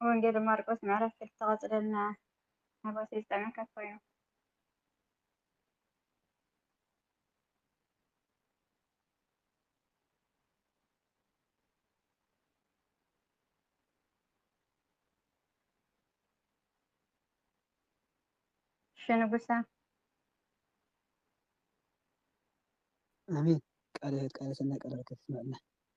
ወንጌል ማርቆስ ምዕራፍ ክልተ ቀፅለልና ሓጎሰይ ዝጠዕመካ ኮይኑ። ሽንጉሳ ኣሜን ቃለ ህይወት ቃለ ሰናይ ቃለ በረከት የስመዐልና።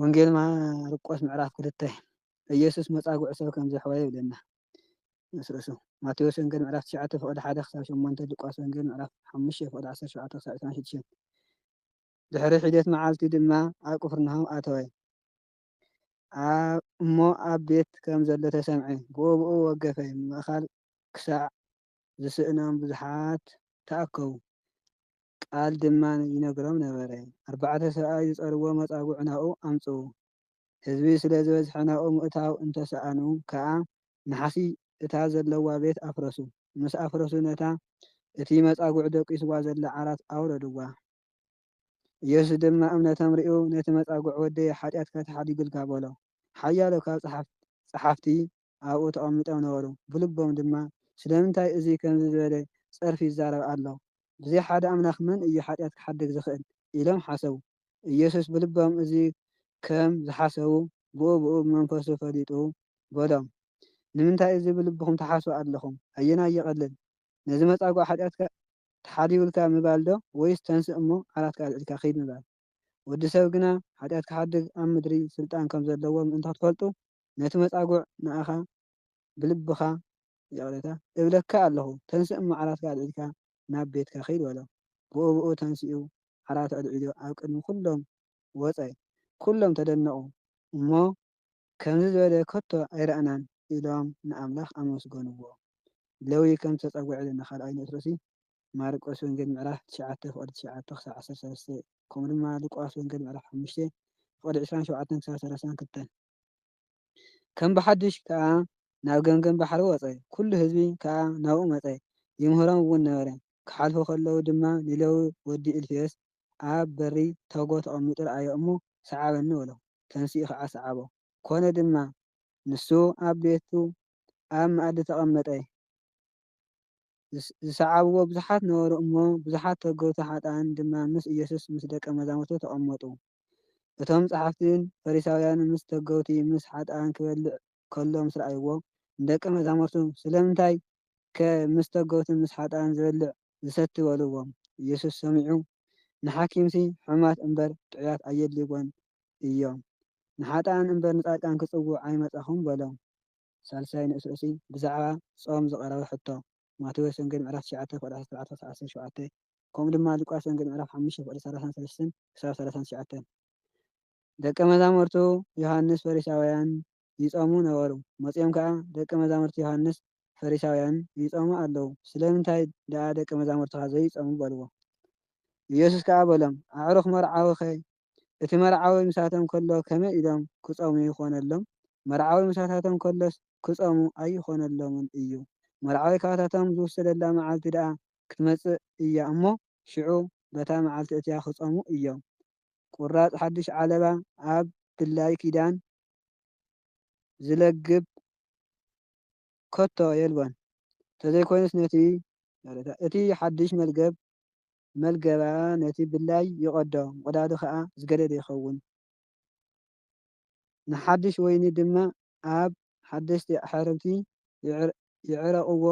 ወንጌል ማርቆስ ምዕራፍ ክልተ ኢየሱስ መጻጉዕ ሰብ ከም ዘሕወየ ይብለና ምስ ርእሱ። ማቴዎስ ወንጌል ምዕራፍ ትሽዓተ ፍቕዲ ሓደ ክሳብ ሸሞንተ ሉቃስ ወንጌል ምዕራፍ ሓሙሽተ ፍቕዲ ዓሰርተ ሸውዓተ ክሳብ ዕስራን ሽዱሽተን ድሕሪ ሒደት መዓልቲ ድማ ኣብ ቅፍርናሆም ኣተወ። እሞ ኣብ ቤት ከም ዘሎ ተሰምዐ፣ ብኡብኡ ወገፈ፣ ምእኻል ክሳዕ ዝስእኖም ብዙሓት ተኣከቡ። ቃል ድማ ይነግሮም ነበረ። ኣርባዕተ ሰብኣይ ዝጸርዎ መጻጉዕ ናብኡ ኣምጽኡ። ህዝቢ ስለ ዝበዝሐ ናብኡ ምእታው እንተ ሰኣኑ ከኣ ናሕሲ እታ ዘለዋ ቤት ኣፍረሱ። ምስ ኣፍረሱ ነታ እቲ መጻጉዕ ደቂስዋ ዘላ ዓራት ኣውረድዋ። ኢየሱስ ድማ እምነቶም ርእዩ ነቲ መጻጉዕ ወደየ ሓጢኣትካ ተሓዲጉልካ በሎ። ሓያሎ ካብ ጸሓፍቲ ኣብኡ ተቐሚጦም ነበሩ፣ ብልቦም ድማ፣ ስለምንታይ እዙይ ከምዚ ዝበለ ፀርፊ ይዛረብ ኣሎ? ብዘይ ሓደ ኣምላኽ መን እዩ ሓጢኣት ክሓድግ ዝኽእል? ኢሎም ሓሰቡ። ኢየሱስ ብልቦም እዙይ ከም ዝሓሰቡ ብኡ ብኡ ብመንፈሱ ፈሊጡ በሎም፣ ንምንታይ እዙይ ብልብኹም ትሓስቡ ኣለኹም? ኣየናይ ይቐልል? ነዚ መፃጉዕ ሓጢኣትካ ተሓሊውልካ ምባል ዶ ወይስ ተንስእ እሞ ዓራትካ ኣልዒልካ ኺድ ምባል? ወዲ ሰብ ግና ሓጢኣት ክሓድግ ኣብ ምድሪ ስልጣን ከም ዘለዎ ምእንቲ ኽትፈልጡ፣ ነቲ መጻጉዕ ንኣኻ ብልብኻ ይቕሬታ እብለካ ኣለኹ ተንስእ እሞ ዓራትካ ኣልዒልካ ናብ ቤትካ ኺድ በሎ። ብኡብኡ ተንሲኡ ዓራት ኣልዒሉ ኣብ ቅድሚ ኵሎም ወጸ። ኵሎም ተደነቑ እሞ ከምዚ ዝበለ ከቶ ኣይረኣናን ኢሎም ንኣምላኽ ኣመስገንዎ። ለዊ ከም ዝተጻጉዐ ኢሉ ንኻልኣይ ንእስሮሲ ማርቆስ ወንጌል ምዕራፍ ትሽዓተ ፍቕዲ ትሽዓተ ክሳብ ዓሰርተ ሰለስተ ከምኡ ድማ ሉቃስ ወንጌል ምዕራፍ ሓሙሽተ ፍቕዲ ዕስራን ሸውዓተን ክሳብ ሰላሳን ክልተን። ከም ብሓድሽ ከኣ ናብ ገምገም ባሕሪ ወጸ፣ ኵሉ ህዝቢ ከኣ ናብኡ መጸ፣ ይምህሮም እውን ነበረ። ኪሓልፉ ኸለዉ ድማ ንሌዊ ወዲ እልፍዮስ፣ ኣብ በሪ ቶጎ ተቐሚጡ ረኣዮ እሞ፣ ሰዓበኒ በሎ፣ ተንሲኡ ኸኣ ሰዓቦ። ኰነ ድማ፣ ንሱ ኣብ ቤቱ ኣብ መኣዲ ተቐመጠ፣ ዝሰዓብዎ ብዙሓት ነበሩ እሞ፣ ብዙሓት ተገቱ ሓጥኣን ድማ ምስ ኢየሱስን ምስ ደቀ መዛሙርቱን ተቐመጡ። እቶም ጸሓፍትን ፈሪሳውያንን ምስ ተገውቲ ምስ ሓጥኣን ክበልዕ ከሎ ምስ ረኣይዎ፣ ንደቀ መዛሙርቱ ስለምንታይከ ምስ ተገውትን ምስ ሓጥኣን ዝበልዕ ዝሰቲ በልዎም። ኢየሱስ ሰሚዑ ንሓኪምሲ ሕሙማት እምበር ጥዑያት ኣየድልይዎን እዮም፣ ንሓጥኣን እምበር ንጻድቃን ክጽውዕ ኣይመጻኹን በሎም። ሳልሳይ ንእስ'ሲ ብዛዕባ ጾም ዝቐረበ ሕቶ። ማቴዎስ ወንጌል ምዕራፍ ትሽዓተ ቁጽሪ ዓሰርተ ኣርባዕተ ክሳብ ዓሰርተ ሸውዓተ ከምኡ ድማ ሉቃስ ወንጌል ምዕራፍ ሓሙሽተ ቁጽሪ ሰላሳን ሰለስተን ክሳብ ሰላሳን ትሽዓተን። ደቀ መዛሙርቱ ዮሃንስ ፈሪሳውያን ይጾሙ ነበሩ። መጺኦም ከኣ ደቀ መዛሙርቲ ዮሃንስ ፈሪሳውያን ይጾሙ ኣለዉ ስለምንታይ ደኣ ደቀ መዛሙርትኻ ዘይጾሙ በልዎ። ኢየሱስ ከኣ በሎም ኣዕሩኽ መርዓዊኸ እቲ መርዓዊ ምሳቶም ከሎ ከመይ ኢሎም ክጾሙ ይኾነሎም? መርዓዊ ምሳታቶም ከሎስ ክጾሙ ኣይኾነሎምን እዩ። መርዓዊ ካብታቶም ዝውሰደላ መዓልቲ ደኣ ክትመጽእ እያ እሞ ሽዑ በታ መዓልቲ እቲኣ ክጾሙ እዮም። ቁራጽ ሓድሽ ዓለባ ኣብ ድላይ ኪዳን ዝለግብ ከቶ የልቦን። እንተዘይኮይኑስ ነቲ እቲ ሓድሽ መልገብ መልገባ ነቲ ብላይ ይቐዶ፣ ምቕዳዱ ኸኣ ዝገደደ ይኸውን። ንሓድሽ ወይኒ ድማ ኣብ ሓደስቲ ኣሕርምቲ ይዕረቕዎ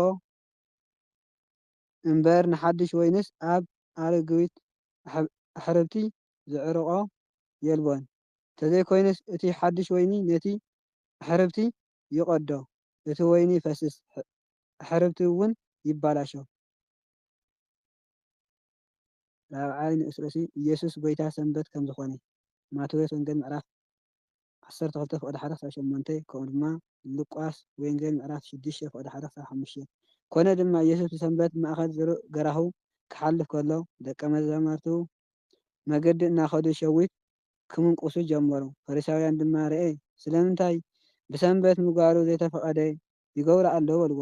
እምበር፣ ንሓድሽ ወይንስ ኣብ ኣረግዊት ኣሕርምቲ ዝዕርቖ የልቦን። እንተዘይኮይኑስ እቲ ሓድሽ ወይኒ ነቲ ኣሕርምቲ ይቐዶ፣ እቲ ወይኒ ይፈስስ፣ ኣሕርምቲ'ውን ይባላሾ። ራብዓይ ንኡስ ርእሲ ኢየሱስ ጐይታ ሰንበት ከም ዝኾነ፣ ማቴዎስ ወንጌል ምዕራፍ ዓሰርተ ክልተ ፍቕዲ ሓደ ክሳብ ሸሞንተ፣ ከምኡ ድማ ሉቃስ ወንጌል ምዕራፍ ሽዱሽተ ፍቕዲ ሓደ ክሳብ ሓሙሽተ። ኮነ ድማ ኢየሱስ ብሰንበት ብማእከል ዝሩእ ገራሁ ክሓልፍ ከሎ፣ ደቀ መዛምርቱ መገዲ እናኸዱ ሸዊት ክምንቍሱ ጀመሩ። ፈሪሳውያን ድማ ርኤ ስለምንታይ ብሰንበት ምግባሩ ዘይተፈቐደ ይገብሩ ኣለዉ በልዎ።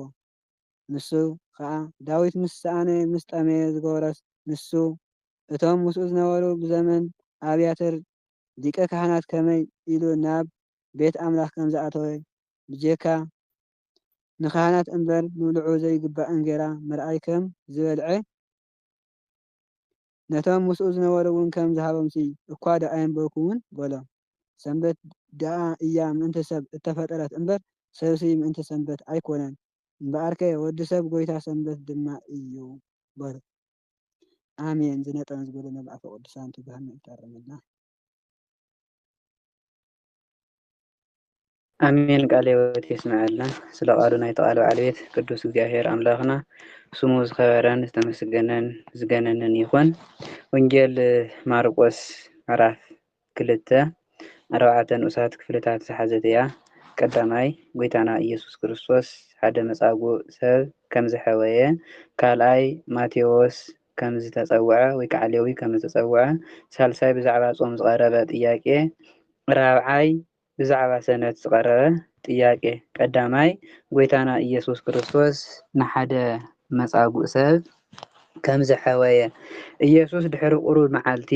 ንሱ ኸኣ ዳዊት ምስ ሰኣነ ምስ ጠመየ ዝገበሮስ ንሱ እቶም ምስኡ ዝነበሩ ብዘመን ኣብያተር ሊቀ ካህናት ከመይ ኢሉ ናብ ቤት ኣምላኽ ከም ዝኣተወ ብጀካ ንካህናት እምበር ንብልዑ ዘይግባእ እንጌራ ምርኣይ ከም ዝበልዔ ነቶም ምስኡ ዝነበሩውን ከም ዝሃቦምሲ እኳ ደኣየንበብኩምን በሎም። ሰንበት ደኣ እያ ምእንቲ ሰብ እተፈጠረት እምበር፣ ሰብሲ ምእንቲ ሰንበት ኣይኰነን። እምበኣርከ ወዲ ሰብ ጐይታ ሰንበት ድማ እዩ በሉ። ኣሜን ዝነጠበን ዝጐደለን ብኣፈ ቅዱሳን ትጉሃን ምእንቲ ተእርመልና። ኣሜን ቃለ ሕይወት የስምዐልና ስለ ቃሉ ናይ ተቃል በዓል ቤት ቅዱስ እግዚኣብሔር ኣምላኽና ስሙ ዝኸበረን ዝተመስገነን ዝገነንን ይኹን። ወንጌል ማርቆስ ምዕራፍ ክልተ ኣርባዕተ ንኡሳት ክፍልታት ዝሓዘት እያ። ቀዳማይ ጎይታና ኢየሱስ ክርስቶስ ሓደ መጻጉዕ ሰብ ከም ዝሐወየ፣ ካልኣይ ማቴዎስ ከም ዝተጸውዐ ወይ ከኣ ሌዊ ከም ዝተጸውዐ፣ ሳልሳይ ብዛዕባ ጾም ዝቐረበ ጥያቄ፣ ራብዓይ ብዛዕባ ሰንበት ዝቐረበ ጥያቄ። ቀዳማይ፣ ጐይታና ኢየሱስ ክርስቶስ ንሓደ መጻጉእ ሰብ ከም ዘሕወየ። ኢየሱስ ድሕሪ ቁሩብ መዓልቲ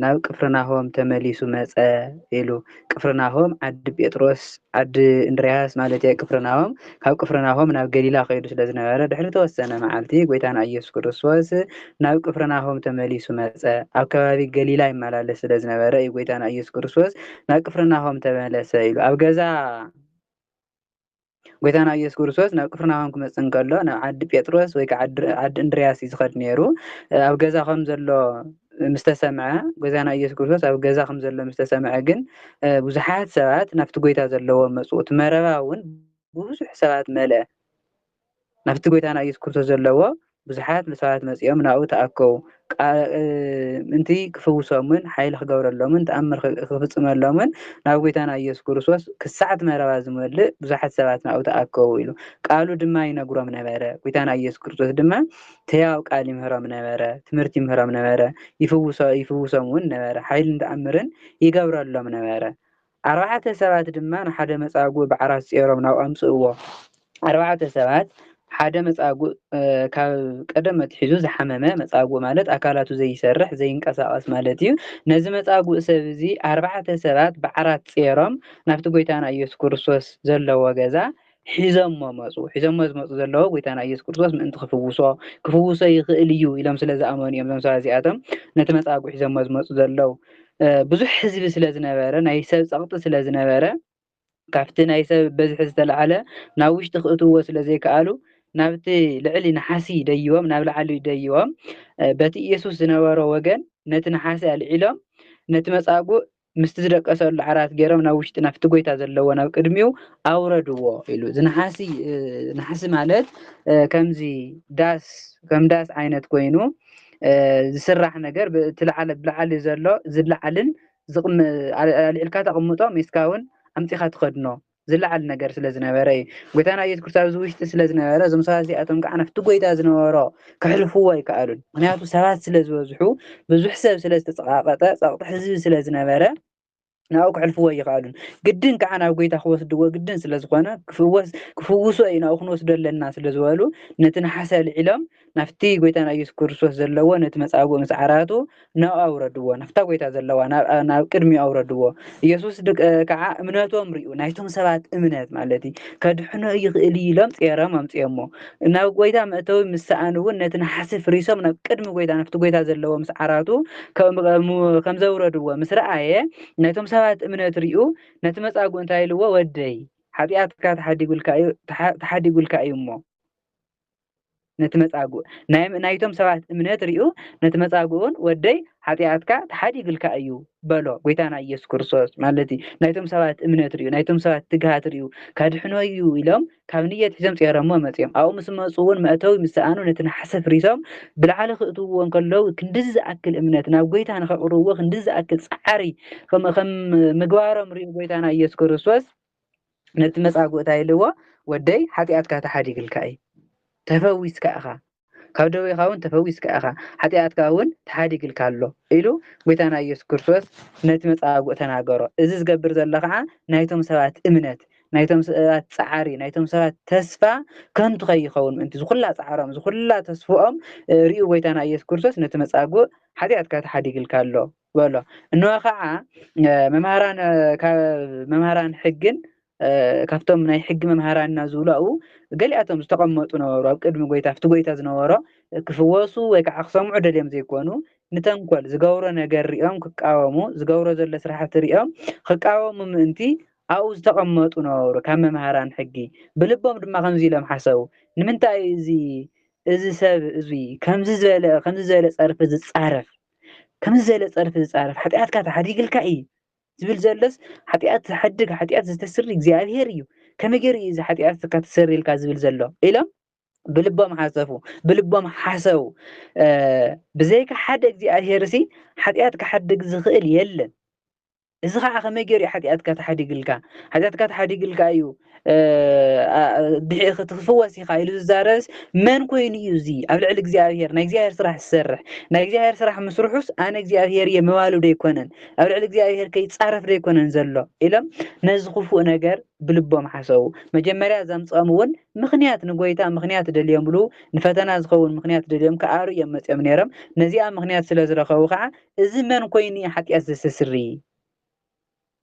ናብ ቅፍርናሆም ተመሊሱ መጸ ኢሉ። ቅፍርናሆም፣ ዓዲ ጴጥሮስ፣ ዓዲ እንድርያስ ማለት'የ፣ ቅፍርናሆም፣ ካብ ቅፍርናሆም ናብ ገሊላ ኸይዱ ስለ ዝነበረ፣ ድሕሪ እተወሰነ መዓልቲ፣ ጐይታና ኢየሱስ ክርስቶስ ናብ ቅፍርናሆም ተመሊሱ መጸ። ኣብ ከባቢ ገሊላ ይመላለስ ስለ ዝነበረ እዩ ጐይታና ኢየሱስ ክርስቶስ ናብ ቅፍርናሆም ተመለሰ ኢሉ ኣብ ገዛ ጐይታና ኢየሱስ ክርስቶስ ናብ ቅፍርናሆም ክመጽእ እንከሎ ናብ ዓዲ ጴጥሮስ ወይ ከዓ ዓዲ እንድርያስ እዩ ዝኸድ ነይሩ። ኣብ ገዛ ከም ዘሎ ምስ ተሰምዐ ጐይታና ኢየሱስ ክርስቶስ ኣብ ገዛ ከም ዘሎ ምስ ተሰምዐ ግን ብዙሓት ሰባት ናብቲ ጐይታ ዘለዎ መጹ። እቲ መረባ እውን ብብዙሕ ሰባት መልአ። ናብቲ ጐይታና ኢየሱስ ክርስቶስ ዘለዎ ብዙሓት ንሰባት መጺኦም ናብኡ ተኣከቡ፣ ምእንቲ ክፍውሶምን ሓይሊ ክገብረሎምን ተኣምር ክፍጽመሎምን ናብ ጐይታና ኢየሱስ ክርስቶስ ክሳዕ እቲ መረባ ዝመልእ ብዙሓት ሰባት ናብኡ ተኣከቡ ኢሉ ቃሉ ድማ ይነግሮም ነበረ። ጐይታና ኢየሱስ ክርስቶስ ድማ ሕያው ቃል ይምህሮም ነበረ፣ ትምህርቲ ይምህሮም ነበረ፣ ይፍውሶም እውን ነበረ፣ ሓይልን ተኣምርን ይገብረሎም ነበረ። ኣርባዕተ ሰባት ድማ ንሓደ መጻጉእ ብዓራት ጼሮም ናብ ኣምጽእዎ። ኣርባዕተ ሰባት ሓደ መጻጉእ ካብ ቀደም ኣትሒዙ ዝሓመመ መጻጉእ ማለት ኣካላቱ ዘይሰርሕ ዘይንቀሳቐስ ማለት እዩ። ነዚ መጻጉእ ሰብ እዚ ኣርባዕተ ሰባት ብዓራት ጼሮም ናብቲ ጎይታና ኢየሱስ ክርስቶስ ዘለዎ ገዛ ሒዘሞ መጹ። ሒዘሞ ዝመጹ ዘለዉ ጎይታና ኢየሱስ ክርስቶስ ምእንቲ ክፍውሶ ክፍውሶ ይኽእል እዩ ኢሎም ስለ ዝኣመኑ እዮም እዞም ሰባት እዚኣቶም ነቲ መጻጉዕ ሒዘሞ ዝመጹ ዘለዉ። ብዙሕ ህዝቢ ስለ ዝነበረ ናይ ሰብ ጸቕጢ ስለ ዝነበረ ካብቲ ናይ ሰብ በዝሒ ዝተላዓለ ናብ ውሽጢ ክእትዎ ስለ ዘይከኣሉ ናብቲ ልዕሊ ነሓሲ ደይቦም ናብ ላዕሊ ደይቦም በቲ ኢየሱስ ዝነበሮ ወገን ነቲ ነሓሲ ኣልዒሎም ነቲ መጻጉዕ ምስቲ ዝደቀሰሉ ዓራት ገይሮም ናብ ውሽጢ ናብቲ ጎይታ ዘለዎ ናብ ቅድሚኡ ኣውረድዎ ኢሉ እዚ ነሓሲ እ፣ ነሓሲ ማለት እ፣ ከምዚ ዳስ ከም ዳስ ዓይነት ኮይኑ እ፣ ዝስራሕ ነገር ብእቲ ለዓለ ብላዕሊ ዘሎ ዝለዓልን ዝቕም- ኣል- ኣልዒልካ ተቕምጦ ሜስካ እውን ኣምፂኻ ትኸድኖ ዝለዓል ነገር ስለ ዝነበረ እዩ። ጎይታና ኢየሱስ ክርስቶስ ኣብዚ ውሽጢ ስለ ዝነበረ እዞም ሰባት እዚኣቶም ከዓ ናብቲ ጎይታ ዝነበሮ ክሕልፍዎ ኣይከኣሉን። ምክንያቱ ሰባት ስለ ዝበዝሑ ብዙሕ ሰብ ስለ ዝተፀቃቀጠ ፀቅጢ ህዝቢ ስለ ዝነበረ ናብኡ ክሕልፍዎ ኣይከኣሉን። ግድን ከዓ ናብ ጎይታ ክወስድዎ ግድን ስለ ዝኾነ ክፍወስ ክፍውሶ እዩ ናብኡ ክንወስዶ ኣለና ስለ ዝበሉ ነቲ ነሓስ ኣልዒሎም ናብቲ ጎይታና ኢየሱስ ክርስቶስ ዘለዎ ነቲ መጻጉዕ ምስ ዓራቱ ናብኡ ኣውረድዎ ናብታ ጎይታ ዘለዋ ናብ ቅድሚኡ ኣውረድዎ ኢየሱስ ከዓ እምነቶም ሪኡ ናይቶም ሰባት እምነት ማለት እዩ ከድሕኖ ይኽእል እዩ ኢሎም ጼሮም ኣምጽኦሞ ናብ ጎይታ መእተዊ ምስ ሰኣኑ እውን ነቲ ነሓሲ ፍሪሶም ናብ ቅድሚ ጎይታ ናብቲ ጎይታ ዘለዎ ምስ ዓራቱ ከም ዘውረድዎ ምስ ረኣየ ናይቶም ሰባት እምነት ሪኡ ነቲ መጻጉዕ እንታይ ኢልዎ ወደይ ሓጢኣትካ ተሓዲጉልካ እዩ ተሓዲጉልካ እዩ እሞ ነቲ መጻጉእ ናይ ናይቶም ሰባት እምነት ሪኡ ነቲ መጻጉእን ወደይ ሓጢኣትካ ተሓዲግልካ እዩ በሎ ጎይታና ኢየሱስ ክርስቶስ ማለት እዩ ናይቶም ሰባት እምነት ሪኡ ናይቶም ሰባት ትግሃት ሪኡ ካድሕኖ እዩ ኢሎም ካብ ንየት ሒዞም ጸረሞ መጽኦም ኣብኡ ምስ መጹ እውን መእተዊ ምስ ሰኣኑ ነቲ ነሓሰ ፍሪሶም ብላዕሊ ክእትውዎ እንከለዉ ክንድዚ ዝኣክል እምነት ናብ ጎይታ ንኸቕርብዎ ክንድዚ ዝኣክል ጻዕሪ ከም ምግባሮም ሪኡ ጎይታና ኢየሱስ ክርስቶስ ነቲ መጻጉእታ ኢልዎ ወደይ ሓጢኣትካ ተሓዲግልካ እዩ ተፈዊስካ ኢኻ ካብ ደዌኻ እውን ተፈዊስካ ኢኻ ሓጢኣትካ እውን ተሓዲግልካ ኣሎ ኢሉ ጎይታና ኢየሱስ ክርስቶስ ነቲ መጻጉእ ተናገሮ እዚ ዝገብር ዘሎ ከዓ ናይቶም ሰባት እምነት ናይቶም ሰባት ጻዕሪ ናይቶም ሰባት ተስፋ ከንቱ ከይኸውን ምእንቲ ዝኹላ ጻዕሮም ዝኹላ ተስፍኦም ርእዩ ጎይታና ኢየሱስ ክርስቶስ ነቲ መጻጉእ ሓጢኣትካ ተሓዲግልካ ኣሎ በሎ እንሆ ከዓ መምሃራን ካብ መምሃራን ሕግን ካብቶም ናይ ሕጊ መምሃራንና ዝብሉ ኣብኡ ገሊኣቶም ዝተቐመጡ ነበሩ ኣብ ቅድሚ ጎይታ ኣብቲ ጎይታ ዝነበሮ ክፍወሱ ወይ ከዓ ክሰምዑ ደልዮም ዘይኮኑ ንተንኮል ዝገብሮ ነገር ሪኦም ክቃወሙ ዝገብሮ ዘሎ ስራሕቲ ሪኦም ክቃወሙ ምእንቲ ኣብኡ ዝተቐመጡ ነበሩ ካብ መምሃራን ሕጊ ብልቦም ድማ ከምዚ ኢሎም ሓሰቡ ንምንታይ እዚ እዚ ሰብ እዙይ ከምዚ ዝበለ ከምዚ ዝበለ ፀርፊ ዝፃረፍ ከምዚ ዘለ ጸርፊ ዝጻረፍ ሓጢኣትካ ተሓዲግልካ እዩ ዝብል ዘሎስ ሓጢኣት ዝሓድግ ሓጢኣት ዝተስሪ እግዚኣብሄር እዩ ከመይ ገይሩ እዩ እዚ ሓጢኣትካ ተሰሪልካ ዝብል ዘሎ ኢሎም ብልቦም ሓሰፉ ብልቦም ሓሰው ብዘይካ ሓደ እግዚኣብሄር ሲ ሓጢኣት ክሓድግ ዝኽእል የለን እዚ ኸዓ ከመይ ገይሩ እዩ ሓጢኣትካ ተሓዲግልካ ሓጢኣትካ ተሓዲግልካ እዩ ድሒእኺ ትክፍወስ ኢኻ ኢሉ ዝዛረብስ መን ኮይኑ እዩ እዚ ኣብ ልዕሊ እግዚኣብሄር ናይ እግዚኣብሄር ስራሕ ዝሰርሕ ናይ እግዚኣብሄር ስራሕ ምስርሑስ ኣነ እግዚኣብሄር እየ ምባሉ ዶ ኣይኮነን ኣብ ልዕሊ እግዚኣብሄር ከይፃረፍ ዶ ኣይኮነን ዘሎ ኢሎም ነዚ ክፉእ ነገር ብልቦም ሓሰቡ መጀመርያ ዘምፅኦም እውን ምክንያት ንጎይታ ምክንያት ደልዮምሉ ንፈተና ዝኸውን ምክንያት ደልዮም ክኣሩ እዮም መፅኦም ነይሮም ነዚኣ ምክንያት ስለ ዝረኸቡ ከዓ እዚ መን ኮይኑ እዩ ሓጢኣት ዘሰስሪ?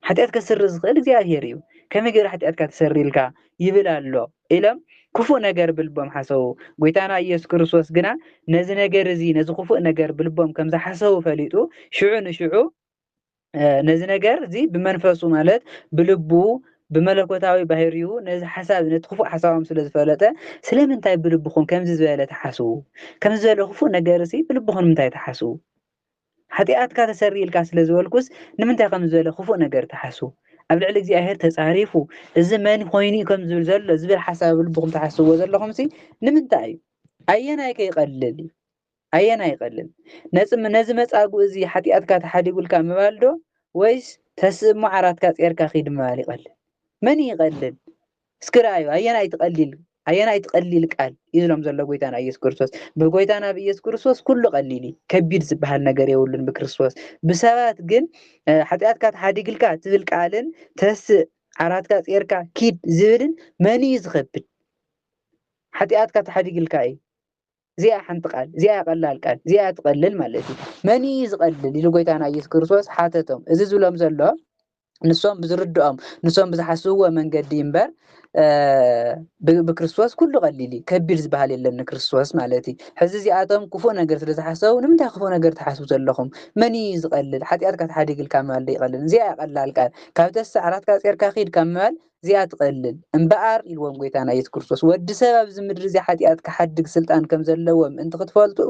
ሓጢኣት ከስሪ ዝኽእል እግዚኣብሔር እዩ። ከመይ ገይሩ ሓጢኣትካ ትሰሪ ኢልካ ይብል ኣሎ ኢሎም ክፉእ ነገር ብልቦም ሓሰቡ። ጐይታና ኢየሱስ ክርስቶስ ግና ነዚ ነገር እዚ ነዚ ክፉእ ነገር ብልቦም ከም ዝሓሰቡ ፈሊጡ ሽዑ ንሽዑ ነዚ ነገር እዚ ብመንፈሱ ማለት ብልቡ ብመለኮታዊ ባህሪኡ ነዚ ሓሳብ ነቲ ክፉእ ሓሳቦም ስለ ዝፈለጠ ስለምንታይ ብልብኹም ከምዚ ዝበለ ተሓስቡ ከምዚ ዝበለ ክፉእ ነገር እዚ ብልብኹም ንምንታይ ተሓስቡ ሓጢኣትካ ተሰሪይልካ ስለ ዝበልኩስ ንምንታይ ከም ዝበለ ክፉእ ነገር ትሓስቡ ኣብ ልዕሊ እግዚኣብሔር ተጻሪፉ እዚ መን ኮይኑ እዩ ከም ዝብል ዘሎ ዝብል ሓሳብ ኣብ ልብኹም ትሓስብዎ ዘለኹም ሲ ንምንታይ እዩ ኣየናይ ከ ይቐልል እዩ ኣየናይ ይቐልል ነዚ ነዚ መጻጉእ እዚ ሓጢኣትካ ተሓዲጉልካ ምባል ዶ ወይስ ተስእሞ ዓራትካ ጼርካ ኺድ ምባል ይቐልል መን ይቐልል እስኪ ረኣዩ ኣየናይ እቲ ቀሊል ኣየናይ እቲ ቀሊል ቃል እዩ ዝሎም ዘሎ ጎይታና ኢየሱስ ክርስቶስ ብጎይታና ብኢየሱስ ክርስቶስ ኩሉ ቀሊል እዩ ከቢድ ዝበሃል ነገር የብሉን ብክርስቶስ ብሰባት ግን ሓጢኣትካ ተሓዲግልካ ትብል ቃልን ተስእ ዓራትካ ጼርካ ኪድ ዝብልን መን እዩ ዝኸብድ ሓጢኣትካ ተሓዲግልካ እዩ እዚኣ ሓንቲ ቃል እዚኣ ቀላል ቃል እዚኣ ትቐልል ማለት እዩ መን እዩ ዝቐልል ኢሉ ጎይታና ኢየሱስ ክርስቶስ ሓተቶም እዚ ዝብሎም ዘሎ ንሶም ብዝርድኦም ንሶም ብዝሓስብዎ መንገዲ እምበር ብክርስቶስ ኩሉ ቀሊል እዩ ከቢድ ዝበሃል የለን ንክርስቶስ ማለት እዩ ሕዚ እዚኣቶም ክፉእ ነገር ስለ ዝሓሰቡ ንምንታይ ክፉእ ነገር ትሓስቡ ዘለኹም መን እዩ ዝቐልል ሓጢኣትካ ተሓዲግልካ ምባል ዶ ይቐልል እዚኣ እያ ቀላል ቃል ካብ ተሳ ዓራትካ ጼርካ ኺድ ካብ ምባል እዚኣ ትቐልል እምበኣር ኢልዎም ጎይታና ኢየሱስ ክርስቶስ ወዲ ሰብ ኣብዚ ምድሪ እዚ ሓጢኣት ክሓድግ ስልጣን ከም ዘለዎ ምእንቲ ክትፈልጡ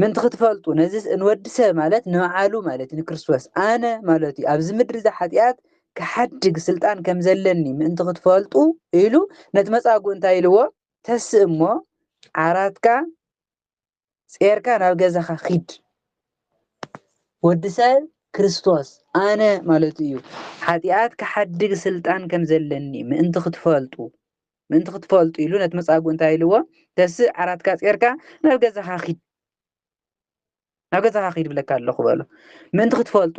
ምእንቲ ክትፈልጡ ነዚ ንወዲ ሰብ ማለት ንበዓሉ ማለት እዩ ንክርስቶስ ኣነ ማለት እዩ ኣብዚ ምድሪ እዚ ሓጢኣት ክሓድግ ስልጣን ከም ዘለኒ ምእንቲ ክትፈልጡ ኢሉ ነቲ መጻጉ እንታይ ኢልዎ ተስእ እሞ ዓራትካ ጼርካ ናብ ገዛኻ ኺድ ወዲ ሰብ ክርስቶስ ኣነ ማለት እዩ ሓጢኣት ክሓድግ ስልጣን ከም ዘለኒ ምእንቲ ክትፈልጡ ምእንቲ ክትፈልጡ ኢሉ ነቲ መጻጉ እንታይ ኢልዎ ተስእ ዓራትካ ጼርካ ናብ ገዛኻ ኪድ ናብ ገዛኻ ኪድ ብለካ ኣለኹ በሎ ምእንቲ ክትፈልጡ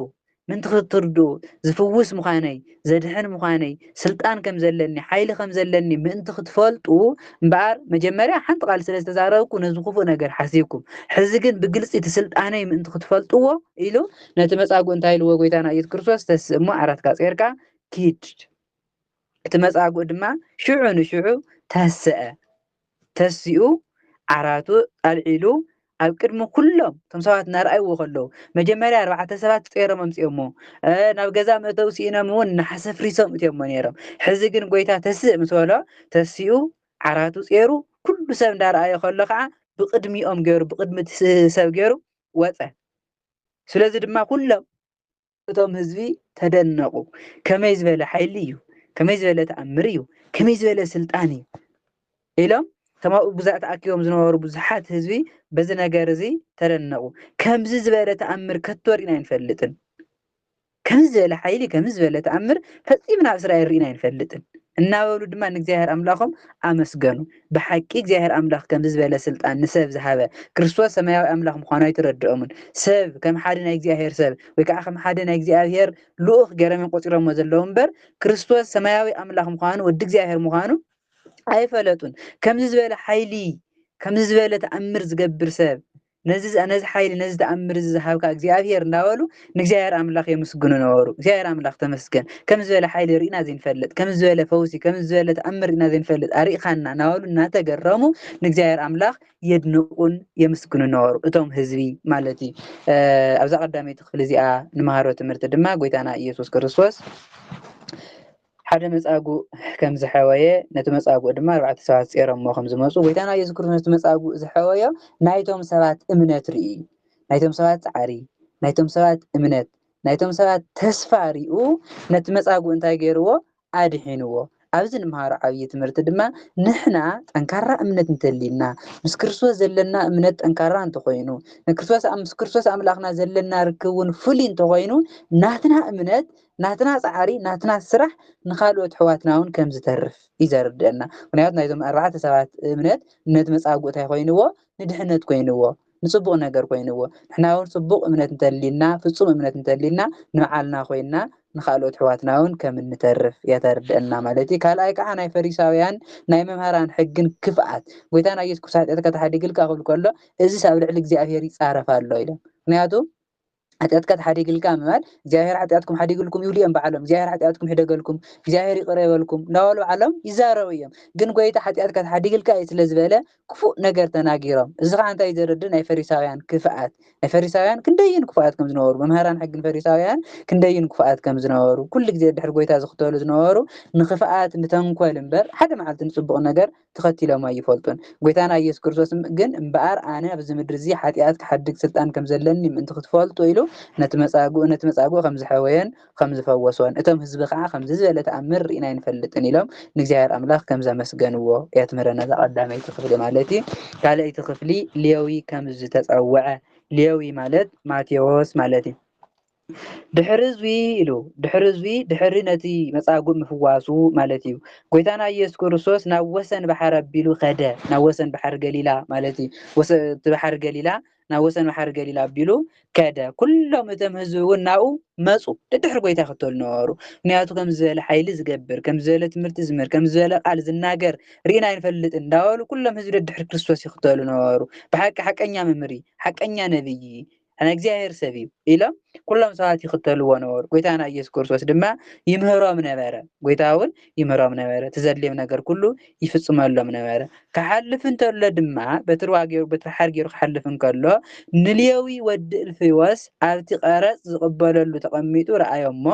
ምእንቲ ክትርድኡ ዝፍውስ ምዃነይ ዘድሕን ምዃነይ ስልጣን ከም ዘለኒ ሓይሊ ከም ዘለኒ ምእንቲ ክትፈልጡ እምበኣር መጀመርያ ሓንቲ ቃል ስለ ዝተዛረብኩ ነዚ ክፉእ ነገር ሓሲብኩም ሕዚ ግን ብግልፂ እቲ ስልጣነይ ምእንቲ ክትፈልጥዎ ኢሉ ነቲ መፃጉ እንታይ ኢልዎ ጎይታና ኢየሱስ ክርስቶስ ተስእ እሞ ዓራትካ ፀርካ ኪድ እቲ መጻጉእ ድማ ሽዑ ንሽዑ ተሰአ። ተሲኡ ዓራቱ ኣልዒሉ ኣብ ቅድሚ ኩሎም እቶም ሰባት እናርኣይዎ ከለዉ መጀመርያ ኣርባዕተ ሰባት ጸይሮም ኣምጺኦሞ ናብ ገዛ መእተዊ ስኢኖም እውን ናሓሰ ፍሪሶም እትዮሞ ነይሮም ሕዚ ግን ጎይታ ተስእ ምስ በሎ ተሲኡ ዓራቱ ጸይሩ ኩሉ ሰብ እንዳርኣዮ ከሎ ከዓ ብቅድሚኦም ገይሩ ብቅድሚ ሰብ ገይሩ ወጸ ስለዚ ድማ ኩሎም እቶም ህዝቢ ተደነቑ ከመይ ዝበለ ሓይሊ እዩ ከመይ ዝበለ ተኣምር እዩ ከመይ ዝበለ ስልጣን እዩ ኢሎም እቶም ኣብኡ ግዛእ ተኣኪቦም ዝነበሩ ብዙሓት ህዝቢ በዚ ነገር እዚ ተደነቑ ከምዚ ዝበለ ተኣምር ከቶ ርኢና ኣይንፈልጥን ከምዚ ዝበለ ሓይሊ ከምዚ ዝበለ ተኣምር ፈፂምና ኣብ እስራኤል ርኢና ኣይንፈልጥን እናበሉ ድማ ንእግዚኣብሔር ኣምላኾም ኣመስገኑ ብሓቂ እግዚኣብሔር ኣምላኽ ከምዚ ዝበለ ስልጣን ንሰብ ዝሃበ ክርስቶስ ሰማያዊ ኣምላኽ ምዃኑ ኣይተረድኦምን። ሰብ ከም ሓደ ናይ እግዚኣብሔር ሰብ ወይ ከኣ ከም ሓደ ናይ እግዚኣብሔር ልኡኽ ገይሮም እዮም ቆጺሮሞ ዘለዉ እምበር ክርስቶስ ሰማያዊ ኣምላኽ ምዃኑ ወዲ እግዚኣብሔር ምዃኑ ኣይፈለጡን። ከምዚ ዝበለ ሓይሊ ከምዚ ዝበለ ተኣምር ዝገብር ሰብ ነዚ ነዚ ሓይሊ ነዚ ተኣምር እዚ ዝሃብካ እግዚኣብሄር እንዳበሉ ንእግዚኣብሄር ኣምላኽ የመስግኑ ነበሩ። እግዚኣብሄር ኣምላኽ ተመስገን ከም ዝበለ ሓይሊ ርኢና ዘይንፈልጥ ከም ዝበለ ፈውሲ ከም ዝበለ ተኣምር ርኢና ዘይንፈልጥ ኣርኢኻና እናበሉ እናተገረሙ ንእግዚኣብሄር ኣምላኽ የድንቑን የመስግኑ ነበሩ እቶም ህዝቢ ማለት እዩ። ኣብዛ ቀዳመይቲ ክፍሊ እዚኣ ንመሃሮ ትምህርቲ ድማ ጎይታና ኢየሱስ ክርስቶስ ሓደ መጻጉእ ከም ዝሐወየ ነቲ መጻጉእ ድማ ኣርባዕተ ሰባት ጼሮሞ ከም ዝመጹ ጎይታና ኢየሱስ ክርስቶስ ነቲ መጻጉእ ዝሐወዮ ናይቶም ሰባት እምነት ሪኡ ናይቶም ሰባት ጻዕሪ ናይቶም ሰባት እምነት ናይቶም ሰባት ተስፋ ሪኡ ነቲ መጻጉእ እንታይ ገይርዎ ኣድሒንዎ ኣብዚ ንምሃሮ ዓብይ ትምህርቲ ድማ ንሕና ጠንካራ እምነት እንተልዩና ምስ ክርስቶስ ዘለና እምነት ጠንካራ እንተኾይኑ ንክርስቶስ ምስ ክርስቶስ ኣምላኽና ዘለና ርክብ እውን ፍሉይ እንተኾይኑ ናትና እምነት ናትና ጻዕሪ ናትና ስራሕ ንኻልኦት ኣሕዋትናውን ከም ዝተርፍ እዩ ዘርድእና ምኽንያቱ ናይዞም ኣርባዕተ ሰባት እምነት ነቲ መጻጉእ ታይ ኮይንዎ ንድሕነት ኮይንዎ ንጽቡቕ ነገር ኮይንዎ ንሕናውን ጽቡቕ እምነት እንተሊና ፍጹም እምነት እንተሊና ንባዓልና ኮይና ንኻልኦት ኣሕዋትናውን ከም እንተርፍ እያ ተርድእና ማለት እዩ ካልኣይ ከዓ ናይ ፈሪሳውያን ናይ መምህራን ሕግን ክፍኣት ጎይታና ኢየሱስ ክርስቶስ ሓጢኣትካ ተሓዲግልካ ክብል ከሎ እዚስ ኣብ ልዕሊ እግዚኣብሔር ይጻረፍ ኣሎ ኢሎም ምክንያቱ ሓጢኣትካ ተሓዲግልካ ምባል እግዚኣብሔር ሓጢኣትኩም ሓዲግልኩም ይብሉ እዮም በዓሎም እግዚኣብሔር ሓጢኣትኩም ሕደገልኩም እግዚኣብሔር ይቕረ ይበልኩም እንዳበሉ በዓሎም ይዛረቡ እዮም ግን ጎይታ ሓጢኣትካ ተሓዲግልካ እዩ ስለ ዝበለ ክፉእ ነገር ተናጊሮም እዚ ከዓ እንታይ ዘረድ ናይ ፈሪሳውያን ክፍኣት ናይ ፈሪሳውያን ክንደይን ክፉኣት ከም ዝነበሩ መምህራን ሕግን ፈሪሳውያን ክንደይን ክፉኣት ከም ዝነበሩ ኩሉ ግዜ ድሕሪ ጎይታ ዝኽተሉ ዝነበሩ ንክፍኣት ንተንኮል እምበር ሓደ መዓልቲ ንፅቡቕ ነገር ተኸቲሎም ኣይፈልጡን። ጐይታና ኢየሱስ ክርስቶስ ግን እምበኣር ኣነ ኣብዚ ምድሪ እዚ ሓጢኣት ክሓድግ ስልጣን ከም ዘለኒ ምእንቲ ኽትፈልጡ ኢሉ ነቲ መጻጉእ ነቲ መጻጉእ ከም ዝሐወዮን ኸም ዝፈወሶን እቶም ህዝቢ ኸኣ ከምዚ ዝበለ ተኣምር ርኢና ኣይንፈልጥን ኢሎም ንእግዚኣብሔር ኣምላኽ ከም ዘመስገንዎ የትምህረና እዛ ቀዳመይቲ ክፍሊ ማለት እዩ። ካልኣይቲ ክፍሊ ሌዊ ከም ዝተጸውዐ ሌዊ ማለት ማቴዎስ ማለት እዩ። ድሕሪ እዙይ ኢሉ ድሕሪ እዙይ ድሕሪ ነቲ መጻጉእ ምፍዋሱ ማለት እዩ ጎይታና ኢየሱስ ክርስቶስ ናብ ወሰን ባሕር ኣቢሉ ከደ ናብ ወሰን ባሕር ገሊላ ማለት እዩ ወሰ- እቲ ባሕር ገሊላ ናብ ወሰን ባሕር ገሊላ ኣቢሉ ከደ ኩሎም እቶም ህዝቢ እውን ናብኡ መፁ ደድሕሪ ጎይታ ይኽተሉ ነበሩ ምክንያቱ ከም ዝበለ ሓይሊ ዝገብር ከም ዝበለ ትምህርቲ ዝምህር ከም ዝበለ ቃል ዝናገር ርኢና ኣይንፈልጥን እንዳበሉ ኩሎም ህዝቢ ደድሕሪ ክርስቶስ ይኽተሉ ነበሩ ብሓቂ ሓቀኛ መምህር እዩ ሓቀኛ ነብይ እዩ ናይ እግዚኣብሔር ሰብ እዩ ኢሎም ኩሎም ሰባት ይኽተልዎ ነበሩ። ጎይታና ኢየሱስ ክርስቶስ ድማ ይምህሮም ነበረ። ጎይታ እውን ይምህሮም ነበረ። ትዘድልዮም ነገር ኩሉ ይፍጽመሎም ነበረ። ክሓልፍ እንተሎ ድማ በትርዋ ገይሩ በትሪ ሓር ገይሩ ክሓልፍ እንከሎ ንሌዊ ወዲ እልፍዮስ ኣብቲ ቀረጽ ዝቕበለሉ ተቐሚጡ ረኣዮ እሞ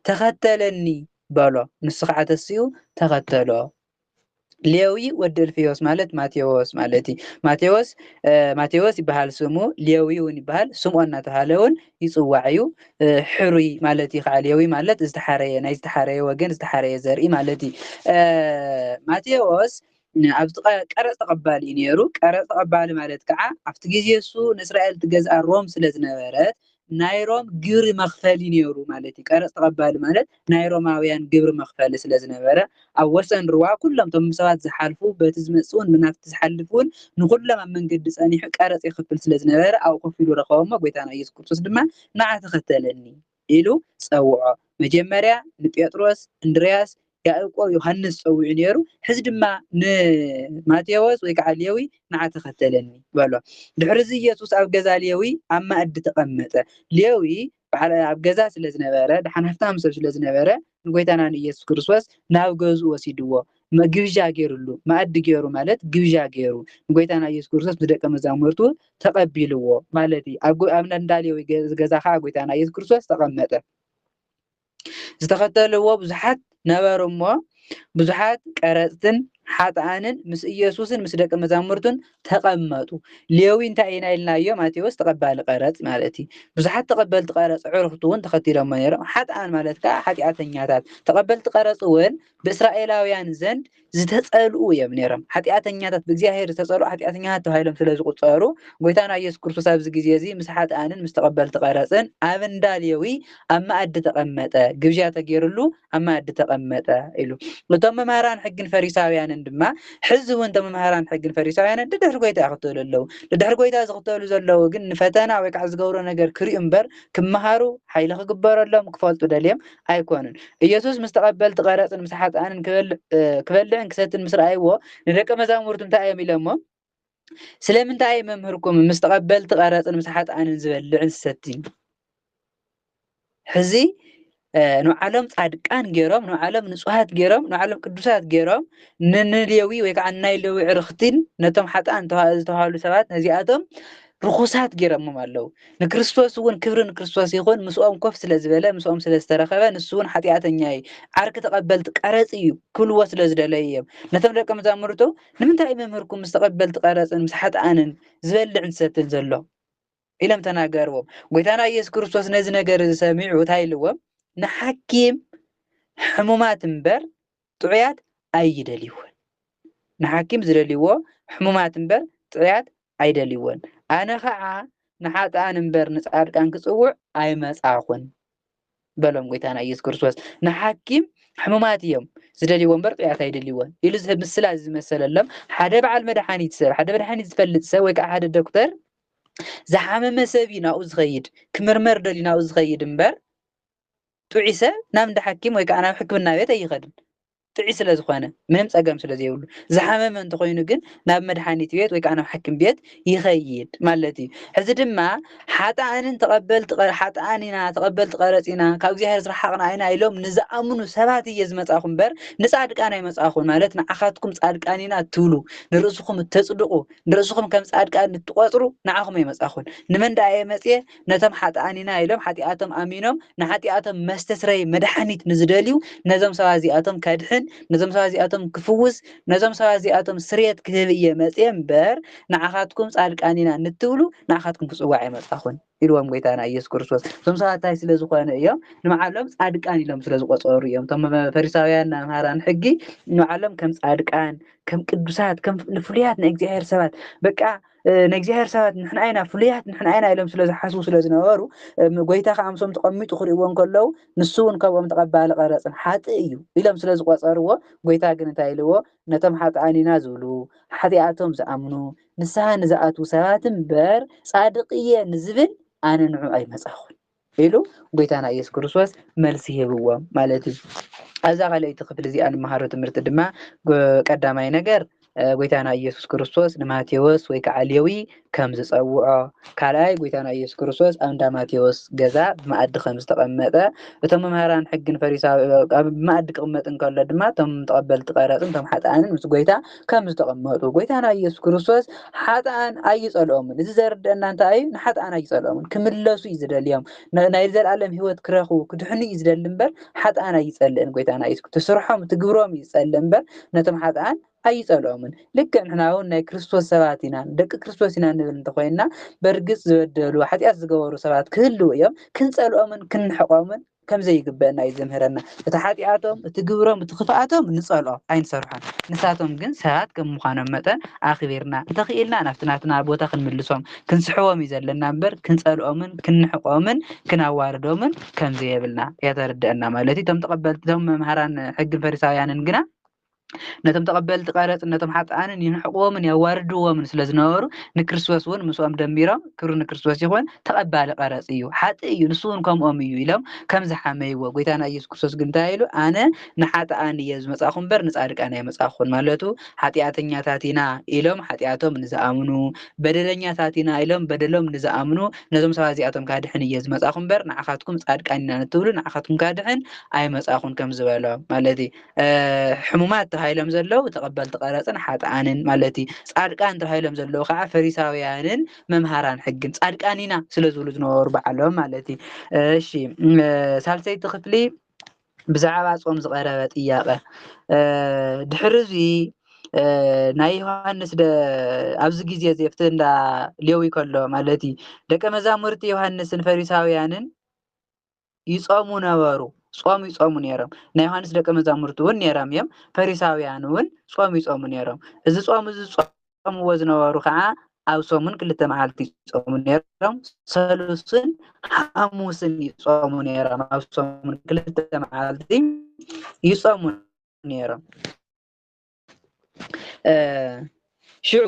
ተኸተለኒ በሎ። ንሱ ከዓ ተሲኡ ተኸተሎ ሌዊ ወዲ እልፍዮስ ማለት ማቴዎስ ማለት እዩ ማቴዎስ ማቴዎስ ይበሃል ስሙ ሌዊ እውን ይበሃል ስምኦን እናተባሃለ እውን ይፅዋዕ እዩ ሕሩይ ማለት እዩ ከዓ ሌዊ ማለት ዝተሓረየ ናይ ዝተሓረየ ወገን ዝተሓረየ ዘርኢ ማለት እዩ ማቴዎስ ኣብዚ ቀረፅ ተቐባሊ እዩ ነይሩ ቀረፅ ተቐባሊ ማለት ከዓ ኣብቲ ግዜ እሱ ንእስራኤል ትገዝኣ ሮም ስለ ዝነበረት ናይ ሮም ግብሪ መኽፈሊ ነይሩ ማለት እዩ። ቀረጽ ተቐባሊ ማለት ናይ ሮማውያን ግብሪ መኽፈሊ ስለ ዝነበረ፣ ኣብ ወሰን ሩባ ኩሎም እቶም ብሰባት ዝሓልፉ፣ በቲ ዝመጽእውን ብናብቲ ዝሓልፍውን ንኹሎም ኣብ መንገዲ ጸኒሑ ቀረጽ የኽፍል ስለ ዝነበረ ኣብኡ ኮፍ ኢሉ ረኸቦሞ ጎይታና ኢየሱስ ክርስቶስ ድማ ንዓ ተኸተለኒ ኢሉ ጸውዖ። መጀመርያ ንጴጥሮስ፣ እንድርያስ፣ ያእቆብ ዮሃንስ ጸዊዑ ነይሩ፣ ሕዚ ድማ ንማቴዎስ ወይ ከዓ ሌዊ ንዓ ተኸተለኒ በሎ። ድሕርዚ ኢየሱስ ኣብ ገዛ ሌዊ ኣብ ማእዲ ተቐመጠ። ሌዊ በዓል ኣብ ገዛ ስለ ዝነበረ ደሓን ሃፍታም ሰብ ስለ ዝነበረ ንጎይታና ንኢየሱስ ክርስቶስ ናብ ገዝኡ ወሲድዎ መ- ግብዣ ገይሩሉ ማእዲ ገይሩ ማለት ግብዣ ገይሩ ንጎይታና ኢየሱስ ክርስቶስ ብደቀ መዛሙርቱ ተቐቢልዎ ማለት እዩ። ኣብ ጎ- ኣብ እንዳ ሌዊ ገ- ገዛ ከዓ ጎይታና ኢየሱስ ክርስቶስ ተቐመጠ። ዝተኸተልዎ ብዙሓት ነበሩ እሞ ብዙሓት ቀረጽትን ሓጥኣንን ምስ ኢየሱስን ምስ ደቂ መዛሙርቱን ተቐመጡ። ሌዊ እንታይ ኢና ኢልናዮ? ማቴዎስ ተቐባሊ ቀረጽ ማለት እዩ። ብዙሓት ተቐበልቲ ቀረጽ ዕርኽቱ እውን ተኸቲሎሞ ነይሮም። ሓጥኣን ማለት ከዓ ሓጢኣተኛታት። ተቐበልቲ ቀረጽ እውን ብእስራኤላውያን ዘንድ ዝተጸልኡ እዮም ነይሮም። ሓጢኣተኛታት ብእግዚኣብሔር ዝተጸልኡ ሓጢኣተኛታት ተባሂሎም ስለ ዝቑጸሩ፣ ጐይታና ኢየሱስ ክርስቶስ ኣብዚ ግዜ እዚ ምስ ሓጥኣንን ምስ ተቐበልቲ ቀረጽን ኣብ እንዳ ሌዊ ኣብ መኣዲ ተቐመጠ፣ ግብዣ ተገይሩሉ ኣብ መኣዲ ተቐመጠ ኢሉ። እቶም መምህራን ሕግን ፈሪሳውያንን ድማ ሕዚ እውን እቶም መምህራን ሕግን ፈሪሳውያንን ደድሕሪ ጐይታ ይኽተሉ ኣለዉ። ደድሕሪ ጐይታ ዝኽተሉ ዘለዉ ግን ንፈተና ወይ ከዓ ዝገብሮ ነገር ክርእዩ እምበር ክመሃሩ፣ ሓይሊ ክግበረሎም፣ ክፈልጡ ደልዮም ኣይኰኑን። ኢየሱስ ምስ ተቐበልቲ ቐረጽን ምስ ሓጥኣንን ክበልዕን ክሰትን ምስ ረኣይዎ ንደቀ መዛሙርቱ እንታይ እዮም ኢሎሞም? ስለምንታይ እዩ መምህርኩም ምስ ተቐበልቲ ቐረጽን ምስ ሓጥኣንን ዝበልዕን ዝሰትን? ሕዚ ንባዕሎም ጻድቃን ገይሮም ንባዕሎም ንጹሃት ገይሮም ንባዕሎም ቅዱሳት ገይሮም ንንሌዊ ወይ ከዓ ናይ ሌዊ ዕርኽቲን ነቶም ሓጥኣን ዝተባህሉ ሰባት ነዚኣቶም ርኹሳት ጌሮሞም ኣለዉ። ንክርስቶስ እውን ክብሪ ንክርስቶስ ይኹን ምስኦም ኮፍ ስለ ዝበለ ምስኦም ስለ ዝተረኸበ ንሱ እውን ሓጢኣተኛ እዩ፣ ዓርኪ ተቐበልቲ ቀረጽ እዩ ክብልዎ ስለ ዝደለዩ እዮም። ነቶም ደቀ መዛሙርቱ ንምንታይ እዩ መምህርኩም ምስ ተቐበልቲ ቀረጽን ምስ ሓጥኣንን ዝበልዕን ዝሰትን ዘሎ? ኢሎም ተናገርዎም። ጐይታና ኢየሱስ ክርስቶስ ነዚ ነገር እዚ ሰሚዑ እንታይ ኢልዎም? ንሓኪም ሕሙማት እምበር ጥዑያት ኣይደልይዎን ንሓኪም ዝደልይዎ ሕሙማት እምበር ጥዑያት ኣይደልይዎን ኣነ ኸዓ ንሓጥኣን እምበር ንጻድቃን ክጽውዕ ኣይመጻኹን በሎም ጎይታና ኢየሱስ ክርስቶስ ንሓኪም ሕሙማት እዮም ዝደልይዎ እምበር ጥዑያት ኣይደልይዎን ኢሉ ዝህብ ምስላ ዝመሰለሎም ሓደ በዓል መድሓኒት ሰብ ሓደ መድሓኒት ዝፈልጥ ሰብ ወይ ከዓ ሓደ ዶክተር ዝሓመመ ሰብ እዩ ናብኡ ዝኸይድ ክምርመር ደልዩ ናብኡ ዝኸይድ እምበር ጥዒሰ ናብ እንዳ ሓኪም ወይ ከዓ ናብ ሕክምና ቤት ኣይኸድን ጥዒ ስለ ዝኾነ ምንም ፀገም ስለ ዘይብሉ ዝሓመመ እንተኾይኑ ግን ናብ መድሓኒት ቤት ወይ ከዓ ናብ ሓኪም ቤት ይኸይድ ማለት እዩ ሕዚ ድማ ሓጥኣንን ተቐበልቲ ሓጥኣን ኢና ተቐበልቲ ቀረፅ ኢና ካብ እግዚኣብሔር ዝረሓቕና ኢና ኢሎም ንዝኣምኑ ሰባት እየ ዝመፃኹ እምበር ንፃድቃን ኣይመፃኹን ማለት ንዓኻትኩም ፃድቃን ኢና እትብሉ ንርእስኹም እተፅድቑ ንርእስኹም ከም ፃድቃን እትቆፅሩ ንዓኹም ኣይመፃኹን ንመን ደኣ እየ መፅየ ነቶም ሓጥኣን ኢና ኢሎም ሓጢኣቶም ኣሚኖም ንሓጢኣቶም መስተስረዪ መድሓኒት ንዝደልዩ ነዞም ሰባት እዚኣቶም ከድሕን ነዞም ሰባት እዚኣቶም ክፍውስ ነዞም ሰባት እዚኣቶም ስርየት ክህብ እየ መጽየ እምበር ንዓኻትኩም ጻድቃን ኢና ንትብሉ ንዓኻትኩም ክጽዋዕ ኣይመጻኹን ኢልዎም ጎይታና ኢየሱስ ክርስቶስ እዞም ሰባት እንታይ ስለ ዝኾኑ እዮም ንባዕሎም ጻድቃን ኢሎም ስለ ዝቆጸሩ እዮም እቶም ፈሪሳውያን መምሃራን ሕጊ ንባዕሎም ከም ጻድቃን ከም ቅዱሳት ከም ፍሉያት ናይ እግዚኣብሔር ሰባት በቃ ናይ እግዚኣብሔር ሰባት ንሕና ኢና ፍሉያት ንሕና ኢና ኢሎም ስለ ዝሓስቡ ስለ ዝነበሩ ጎይታ ከዓ ምሶም ተቐሚጡ ክርእዎ እንከለዉ ንሱ እውን ከምኦም ተቐባሊ ቀረፅን ሓጥእ እዩ ኢሎም ስለ ዝቆፀርዎ ጎይታ ግን እንታይ ኢልዎ ነቶም ሓጥኣን ኢና ዝብሉ ሓጢኣቶም ዝኣምኑ ንስሓ ንዝኣትዉ ሰባት እምበር ፃድቕ እየ ንዝብል ኣነ ንዑ ኣይመፃኹን ኢሉ ጎይታና ኢየሱስ ክርስቶስ መልሲ ሂብዎ ማለት እዩ። ኣብዛ ካልኣይቲ ክፍሊ እዚኣ ንመሃሮ ትምህርቲ ድማ ቀዳማይ ነገር ጎይታና ኢየሱስ ክርስቶስ ንማቴዎስ ወይ ከዓ ሌዊ ከም ዝፀውዖ፣ ካልኣይ ጎይታና ኢየሱስ ክርስቶስ ኣብ እንዳ ማቴዎስ ገዛ ብመኣዲ ከም ዝተቐመጠ፣ እቶም መምህራን ሕግን ፈሪሳዊ ኣብ መኣዲ ክቕመጥ እንከሎ ድማ እቶም ተቐበልቲ ቀረፅን እቶም ሓጥኣንን ምስ ጎይታ ከም ዝተቐመጡ ጎይታና ኢየሱስ ክርስቶስ ሓጥኣን ኣይጸልኦምን እዚ ዘርድአና እንታይ እዩ ንሓጥኣን ኣይጸልኦምን ክምለሱ እዩ ዝደልዮም ናይ ዘልኣለም ህይወት ክረኽቡ ክድሕኑ እዩ ዝደሊ እምበር ሓጥኣን ኣይጸልእን ጎይታና ኢየሱስ ትስርሖም ትግብሮም እዩ ዝጸልእ እምበር ነቶም ሓጥኣን ኣይጸልኦምን ልክዕ ንሕና እውን ናይ ክርስቶስ ሰባት ኢና ደቂ ክርስቶስ ኢና ንብል እንተኮይንና በርግጽ ዝበደሉ ሓጢኣት ዝገበሩ ሰባት ክህልው እዮም ክንጸልኦምን ክንሕቆምን ከም ዘይግበእና እዩ ዝምህረና። እቲ ሓጢኣቶም፣ እቲ ግብሮም፣ እቲ ክፍኣቶም ንጸልኦ፣ ኣይንሰርሖን። ንሳቶም ግን ሰባት ከም ምዃኖም መጠን ኣኽቢርና፣ እንተኽኢልና ናብቲ ናትና ቦታ ክንምልሶም፣ ክንስሕቦም እዩ ዘለና እምበር ክንጸልኦምን ክንንሕቆምን ክናዋርዶምን ከም ዘየብልና የተርደእና ማለት እዩ። እቶም ተቐበልቲ እቶም መምሃራን ሕግን ፈሪሳውያንን ግና፣ ነቶም ተቐበልቲ ቀረጽን ነቶም ሓጥኣንን ይንሕቕዎምን የዋርድዎምን ስለ ዝነበሩ ንክርስቶስ እውን ምስኦም ደሚሮም ክብሪ ንክርስቶስ ይኹን ተቐባሊ ቀረጽ እዩ ሓጥ እዩ ንሱ እውን ከምኦም እዩ ኢሎም ከም ዝሓመይዎ ጎይታና ኢየሱስ ክርስቶስ ግን እንታይ ኢሉ ኣነ ንሓጥኣን እየ ዝመጻኹ እምበር ንጻድቃን ኣይመጻኹን ማለቱ ሓጢኣተኛታት ኢና ኢሎም ሓጢኣቶም ንዝኣምኑ በደለኛታት ኢና ኢሎም በደሎም ንዝኣምኑ ነዞም ሰባት እዚኣቶም ካድሕን እየ ዝመጻኹ እምበር ንዓኻትኩም ጻድቃን ኢና ንትብሉ ንዓኻትኩም ካድሕን ኣይመጻኹን ከም ዝበሎም ማለት እዩ ሕሙማት ተባሂሎም ዘለዉ ተቐበልቲ ቀረፅን ሓጥኣንን ማለት እዩ። ፃድቃን ተባሂሎም ዘለዉ ከዓ ፈሪሳውያንን መምሃራን ሕግን ፃድቃን ኢና ስለ ዝብሉ ዝነበሩ በዓሎም ማለት እዩ። እሺ ሳልሰይቲ ክፍሊ ብዛዕባ ጾም ዝቐረበ ጥያቐ ድሕሪ እዚ ናይ ዮሃንስ ኣብዚ ግዜ እዚ ኣብቲ እንዳ ሌዊ ከሎ ማለት እዩ ደቀ መዛሙርቲ ዮሃንስን ፈሪሳውያንን ይጾሙ ነበሩ ጾም ይጾሙ ነይሮም ናይ ዮሃንስ ደቂ መዛሙርቲ እውን ነይሮም እዮም ፈሪሳውያን እውን ጾም ይጾሙ ነይሮም እዚ ጾም እዚ ዝጾምዎ ዝነበሩ ከዓ ኣብ ሰሙን ክልተ መዓልቲ ይጾሙ ነይሮም ሰሉስን ሓሙስን ይጾሙ ነይሮም ኣብ ሰሙን ክልተ መዓልቲ ይጾሙ ነይሮም ሽዑ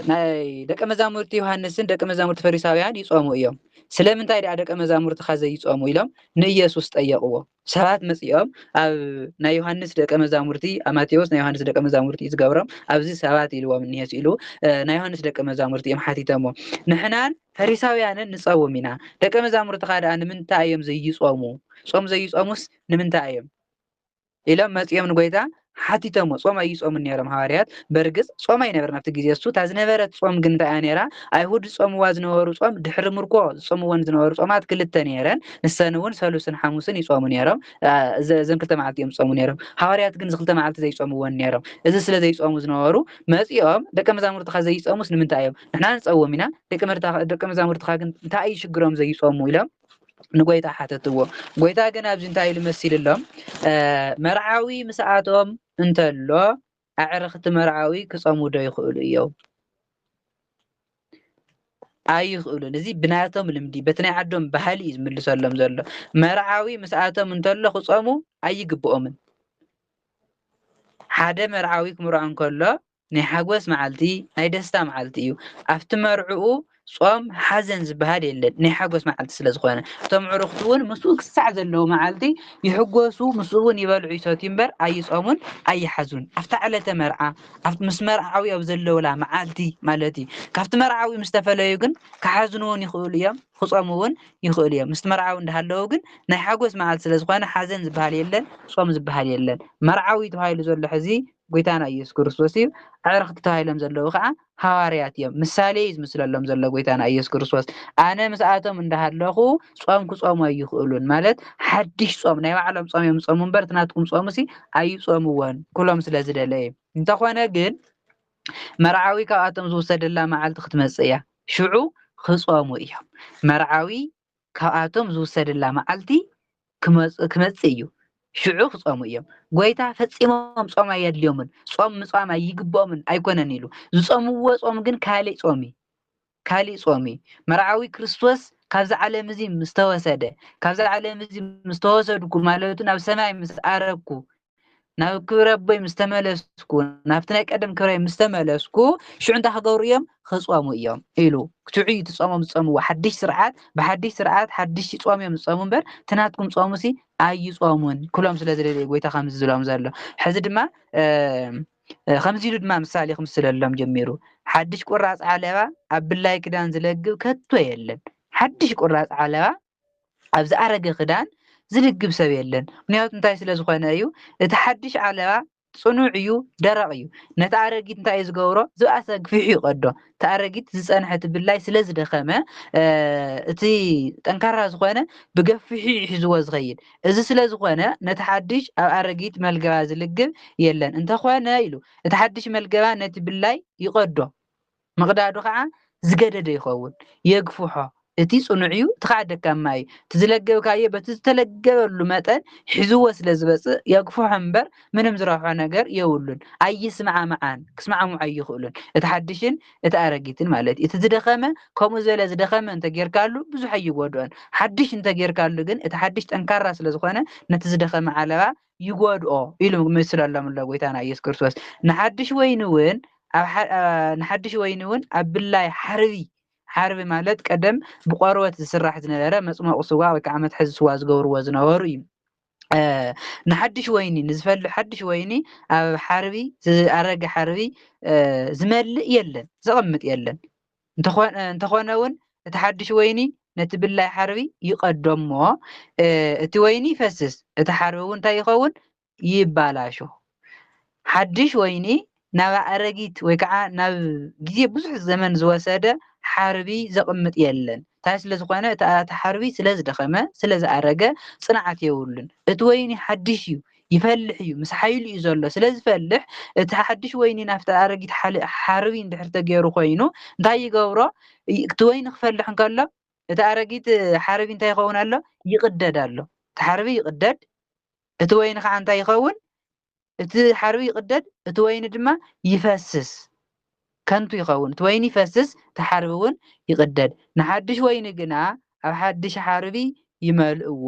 ናይ ደቀ መዛሙርቲ ዮሃንስን ደቀ መዛሙርቲ ፈሪሳውያን ይጾሙ እዮም ስለምንታይ ደኣ ደቀ መዛሙርትኻ ዘይጾሙ ኢሎም ንኢየሱስ ጠየቕዎ ሰባት መጺኦም ኣብ ናይ ዮሃንስ ደቀ መዛሙርቲ ኣብ ማቴዎስ ናይ ዮሃንስ ደቀ መዛሙርቲ እዩ ዝገብሮም ኣብዚ ሰባት ኢልዎም እኒሀ ኢሉ ናይ ዮሃንስ ደቀ መዛሙርቲ እዮም ሓቲተሞ ንሕናን ፈሪሳውያንን ንጸውም ኢና ደቀ መዛሙርትኻ ደኣ ንምንታይ እዮም ዘይጾሙ ጾም ዘይጾሙስ ንምንታይ እዮም ኢሎም መጺኦም ንጎይታ ሓቲቶሞ ጾም ኣይጾሙን ኔሮም ሃዋርያት በርግጽ ጾም ኣይነበረን ኣብቲ ግዜ እሱ እታ ዝነበረት ጾም ግን እንታይ እያ ኔራ ኣይሁድ ዝጾምዋ ዝነበሩ ጾም ድሕሪ ምርኮ ዝጾምወን ዝነበሩ ጾማት ክልተ ኔረን ንሰን እውን ሰሉስን ሓሙስን ይጾሙ ኔሮም እዘን ክልተ መዓልቲ እዮም ዝጾሙ ኔሮም ሃዋርያት ግን ዝክልተ መዓልቲ ዘይጾምወን ኔሮም እዚ ስለ ዘይጾሙ ዝነበሩ መጺኦም ደቀ መዛሙርትካ ዘይጾሙስ ንምንታይ እዮም ንሕና ንጸውም ኢና ደቀ መዛሙርትካ ግን እንታይ እዩ ሽግሮም ዘይጾሙ ኢሎም ንጎይታ ሓተትዎ ጎይታ ግን ኣብዚ እንታይ ኢሉ መሲልሎም መርዓዊ ምስኣቶም እንተሎ ኣዕርኽቲ መርዓዊ ክጸሙ ዶ ይኽእሉ እዮም ኣይኽእሉን እዚ ብናቶም ልምዲ በቲ ናይ ዓዶም ባህሊ እዩ ዝምልሰሎም ዘሎ መርዓዊ ምስኣቶም እንተሎ ክጸሙ ኣይግብኦምን ሓደ መርዓዊ ክምርዖ እንከሎ ናይ ሓጎስ መዓልቲ ናይ ደስታ መዓልቲ እዩ ኣብቲ መርዕኡ ጾም ሓዘን ዝበሃል የለን ናይ ሓጎስ መዓልቲ ስለ ዝኾነ እቶም ዕሩኽቲ እውን ምስኡ ክሳዕ ዘለዉ መዓልቲ ይሕጎሱ ምስኡ እውን ይበልዑ ይሰትዩ እምበር ኣይጾሙን ኣይሓዙን ኣብታ ዕለተ መርዓ ምስ መርዓዊ ኣብ ዘለውላ መዓልቲ ማለት እዩ ካብቲ መርዓዊ ምስ ተፈለዩ ግን ክሓዝኑ እውን ይኽእሉ እዮም ክጾሙ እውን ይኽእሉ እዮም ምስቲ መርዓዊ እንዳሃለዉ ግን ናይ ሓጎስ መዓልቲ ስለ ዝኾነ ሓዘን ዝበሃል የለን ጾም ዝበሃል የለን መርዓዊ ተባሂሉ ዘሎ ሕዚ ጐይታና ኢየሱስ ክርስቶስ እዩ። ኣዕርኽቲ ተባሂሎም ዘለዉ ኸኣ ሃዋርያት እዮም። ምሳሌ እዩ ዝምስለሎም ዘሎ ጐይታና ኢየሱስ ክርስቶስ። ኣነ ምስኣቶም እንዳሃለኹ ጾም ክጾሙ ኣይኽእሉን ማለት ሓድሽ ጾም ናይ ባዕሎም ጾም እዮም ዝጾሙ እምበር እቲ ናትኩም ጾምሲ ኣይጾምዎን ክብሎም ስለ ዝደለ እዩ። እንተኾነ ግን መርዓዊ ካብኣቶም ዝውሰደላ መዓልቲ ክትመጽእ እያ። ሽዑ ክጾሙ እዮም። መርዓዊ ካብኣቶም ዝውሰድላ መዓልቲ ክመጽእ እዩ፣ ሽዑ ክጾሙ እዮም። ጐይታ ፈጺሞም ጾም ኣየድልዮምን፣ ጾም ምጽዋም ኣይግብኦምን ኣይኰነን ኢሉ። ዝጾምዎ ጾም ግን ካልእ ጾም እዩ፣ ካልእ ጾም እዩ። መርዓዊ ክርስቶስ ካብዚ ዓለም እዚ ምስ ተወሰደ፣ ካብዚ ዓለም እዚ ምስ ተወሰድኩ ማለቱ ናብ ሰማይ ምስ ኣረግኩ ናብ ክብሪ ኣቦይ ምስ ተመለስኩ ናብቲ ናይ ቀደም ክብረይ ምስ ተመለስኩ ሽዑ እንታይ ክገብሩ እዮም ክጾሙ እዮም ኢሉ ክትዑ እዩ እቲ ጾሞም ዝጸምዎ ሓድሽ ስርዓት ብሓድሽ ስርዓት ሓድሽ ጾም እዮም ዝጸሙ እምበር እቲ ናትኩም ጾሙ ሲ ኣይጾሙን ክብሎም ስለ ዝደለየ ጎይታ ከምዚ ዝብሎም ዘሎ ሕዚ ድማ ከምዚ ኢሉ ድማ ምሳሌ ክምስለሎም ጀሚሩ ሓድሽ ቁራጽ ዓለባ ኣብ ብላይ ክዳን ዝለግብ ከቶ የለን ሓድሽ ቁራጽ ዓለባ ኣብ ዝኣረገ ክዳን ዝልግብ ሰብ የለን ምክንያቱ እንታይ ስለ ዝኾነ እዩ እቲ ሓድሽ ዓለባ ጽኑዕ እዩ ደረቕ እዩ ነቲ ኣረጊት እንታይ እዩ ዝገብሮ ዝብኣሰ ግፊሑ ይቐዶ እቲ ኣረጊት ዝጸንሐ እቲ ብላይ ስለ ዝደኸመ እቲ ጠንካራ ዝኾነ ብገፊሑ ይሕዝዎ ዝኸይድ እዚ ስለ ዝኾነ ነቲ ሓድሽ ኣብ ኣረጊት መልገባ ዝልግብ የለን እንተኾነ ኢሉ እቲ ሓድሽ መልገባ ነቲ ብላይ ይቐዶ ምቕዳዱ ኸኣ ዝገደደ ይኸውን። የግፍሖ። እቲ ጽኑዕ'ዩ፣ እቲ ኸኣ ደካማ'ዩ። እቲ ዝለገብካዮ በቲ ዝተለገበሉ መጠን ሒዝዎ ስለ ዝመጽእ የግፍሖ እምበር ምንም ዝረብሖ ነገር የብሉን። ኣይስማዕምዓን፣ ክስማዕምዑ ኣይኽእሉን፣ እቲ ሓድሽን እቲ ኣረጊትን ማለት'ዩ። እቲ ዝደኸመ ከምኡ ዝበለ ዝደኸመ እንተ ጌርካሉ ብዙሕ ኣይጎድኦን። ሓድሽ እንተ ጌርካሉ ግን እቲ ሓድሽ ጠንካራ ስለ ዝኾነ ነቲ ዝደኸመ ዓለባ ይጎድኦ ኢሉ ምስለሎም ኣሎ ጎይታና ኢየሱስ ክርስቶስ ንሓድሽ ወይኒ እውን ንሓድሽ ወይኒ እውን ኣብ ብላይ ሓርቢ ሓርቢ ማለት ቀደም ብቆርበት ዝስራሕ ዝነበረ መፅሞቂ ስዋ ወይ ከዓ መትሐዚ ስዋ ዝገብርዎ ዝነበሩ እዩ ንሓድሽ ወይኒ ንዝፈል ሓድሽ ወይኒ ኣብ ሓርቢ ዝኣረገ ሓርቢ ዝመልእ የለን ዘቐምጥ የለን እንተኾነ ውን እቲ ሓድሽ ወይኒ ነቲ ብላይ ሓርቢ ይቐዶ እሞ እቲ ወይኒ ይፈስስ፣ እቲ ሓርቢ ውን እንታይ ይኸውን? ይባላሾ። ሓድሽ ወይኒ ናብ ኣእረጊት ወይ ከዓ ናብ ግዜ ብዙሕ ዘመን ዝወሰደ ሓርቢ ዘቕምጥ የለን። ታይ ስለዝኾነ እቲ ሓርቢ ስለዝደኸመ፣ ስለዝኣረገ፣ ፅንዓት የብሉን። እቲ ወይኒ ሓድሽ ዩ። ይፈልሕ እዩ፣ ምስ ሓይሉ እዩ ዘሎ። ስለ ዝፈልሕ፣ እቲ ሓድሽ ወይኒ ናብቲ ኣረጊት ሓርቢ እንድሕር ተገይሩ ኾይኑ፣ እንታይ ይገብሮ? እቲ ወይኒ ክፈልሕ እንከሎ፣ እቲ ኣረጊት ሓርቢ እንታይ ይኸውን ኣሎ? ይቕደድ ኣሎ። እቲ ሓርቢ ይቕደድ፣ እቲ ወይኒ ከዓ እንታይ ይኸውን? እቲ ሓርቢ ይቕደድ፣ እቲ ወይኒ ድማ ይፈስስ፣ ከንቱ ይኸውን። እቲ ወይኒ ይፈስስ፣ እቲ ሓርቢ እውን ይቕደድ። ንሓድሽ ወይኒ ግና ኣብ ሓድሽ ሓርቢ ይመልእዎ።